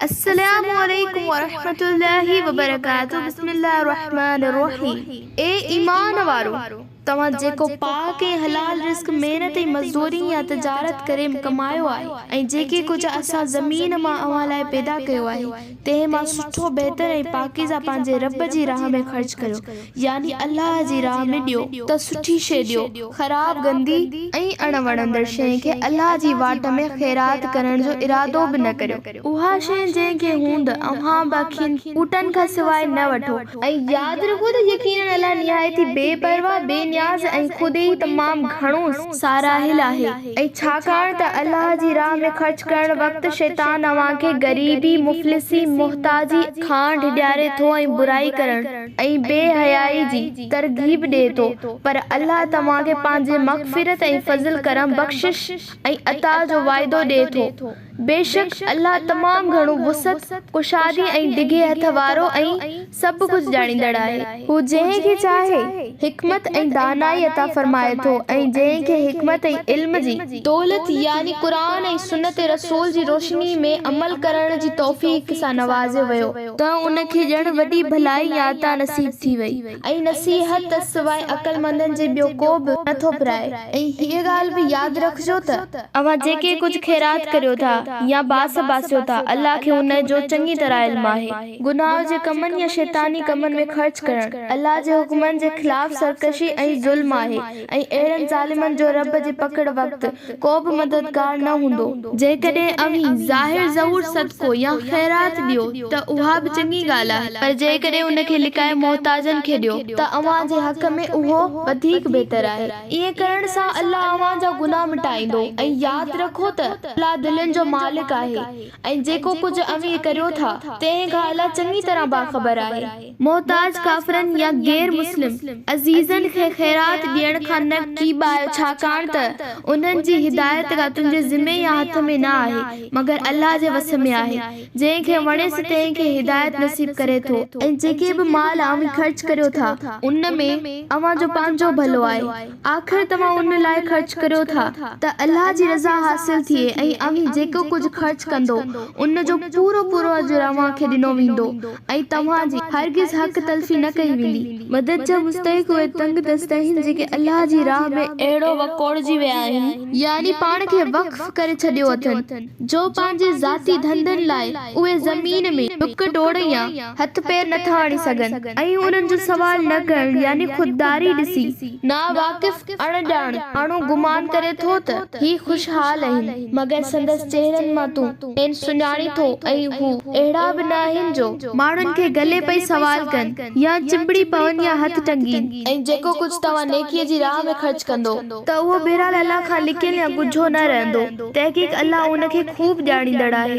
السلام عليڪم ورحمة الله وبرڪاته بسم الله الرحمٰن الرحيم اي ايمان وارو! توهان جيڪو پاڪ ۽ حلال رزق محنت ۽ مزدوري يا تجارت ڪري ڪمايو آهي ۽ جيڪي ڪجهه اسان زمين مان اوهان لاء پيدا ڪيو آهي، تنهن مان سٺو، بهتر ۽ پاڪيزه پنهنجي رب جي راهه ۾ خرچ ڪريو، يعني الله جي راهه ۾ ڏيو، ته سٺي شيء ڏيو، خراب، گندي ۽ اڻ وڻندڙ شيء کي الله جي واٽ ۾ خيرات ڪرڻ جو ارادو به نه ڪريو. اها شيء جنهن کي هوند اوهان به کين ٻوٽن کان سواء نه وٺو، ۽ ياد رکو ته يقينن الله نهايت ئي بي پرواهه، بي نياز ۽ خود ئي تمام گهڻو ساراهيل آهي، ۽ ڇاڪاڻ ته الله جي راهه ۾ خرچ ڪرڻ وقت شيطان اوهان کي غريبي، مفلسي، محتاجي، کان ڍڄاري ٿو ۽ برائي ڪرڻ ۽ بي حيائي جي ترغيب ڏئي ٿو، پر الله توهان کي پنهنجي مغفرت ۽ فضل ڪرم، بخشش ۽ عطاء جو وعدو ڏئي ٿو. بيشڪ الله تمام گهڻو وسعت، ڪشادي ۽ ڊگهي هٿ وارو ۽ سڀ ڪجهه ڄاڻيندڙ آهي. هو جنهن کي چاهي، حڪمت ۽ دانائي عطا فرمائي ٿو ۽ جنهن کي حڪمت ۽ علم جي. دولت يعني قرآن ۽ سنت رسول جي روشني ۾ عمل ڪرڻ جي توفيق سان نوازيو ويو. ته ان کي ڄڻ وڏي ڀلائي يا عطا نصيب ٿي وئي. ۽ نصيحت ته سواء عقلمندن جي ٻيو ڪو به نه ٿو پرائي ۽ هيء ڳالهه به ياد رکجو ته. اوهان جيڪي ڪجهه خيرات ڪريو ٿا يا باس باسيو ٿا الله کي ان جو چڱي طرح علم آهي. گناهه جي ڪمن يا شيطاني ڪمن ۾ خرچ ڪرڻ الله جي حڪمن جي خلاف سرڪشي ۽ ظلم آهي. ۽ اهڙن ظالمن جو رب جي پڪڙ وقت ڪو به مددگار نه هوندو. جيڪڏهن اوهين ظاهر ظهور صدقو يا خيرات ڏيو ته اها به چڱي ڳالهه آهي، پر جيڪڏهن ان کي لڪائي محتاجن کي ڏيو ته اوهان جي حق ۾ اهو وڌيڪ بهتر آهي. ائين ڪرڻ سان الله اوهان جا گناهه مٽائيندو ۽ ياد رکو ته الله دلين جو مالڪ آهي ۽ جيڪو ڪجهه اوهين ڪريو ٿا، تنهن کان الله چڱي طرح باخبر آهي. محتاج ڪافرن يا غير مسلم عزيزن کي خيرات ڏيڻ کان نه ڪيٻايو ڇاڪاڻ ته انهن جي هدايت ڪا تنهنجي ذمي يا هٿ ۾ نه آهي مگر الله جي وس ۾ آهي جنهن کي وڻي سو تنهن کي هدايت نصيب ڪري ٿو. ۽ جيڪي به مال اوهين خرچ ڪريو ٿا ان ۾ اوهان جو پنهنجو ڀلو آهي. آخر توهان ان لاء خرچ ڪريو ٿا ته الله جي رضا حاصل ٿئي ۽ اوهين جيڪو ڪجهه خرچ ڪندو ان جو پورو پورو اجر اوهان کي ڏنو ويندو ۽ توهان جي هرگز حق تلفي نه ڪئي ويندي. مدد جا مستحق اهي تنگ دست آهن جيڪي الله جي راهه ۾ اهڙو وڪوڙجي ويا آهن. يعني پاڻ کي وقف ڪري ڇڏيو اٿن. جو پنهنجي ذاتي ڌنڌن لاء اهي زمين ۾ ڊڪ ڊوڙ يا هٿ پير نٿا آڻي سگهن ۽ انهن جو سوال نه ڪرڻ يعني خودداري ڏسي ناواقف اڻ ڄاڻ ماڻهو گمان ڪري ٿو ته هي خوشحال اهن مگر سندس چهرن مان تون کين سڃاڻي ٿو ۽ هو اهڙا به نه آهن جو ماڻهن کي گلي پئي سوال ڪن يا چنبڙي پون يا هٿ ٽنگين. ۽ جيڪو ڪجهه توهان نيڪيء جي راهه ۾ خرچ ڪندو. ته اهو بهرحال الله کان لڪيل يا ڳجهو نه رهندو، تحقيق الله ان کي خوب ڄاڻيندڙ آهي.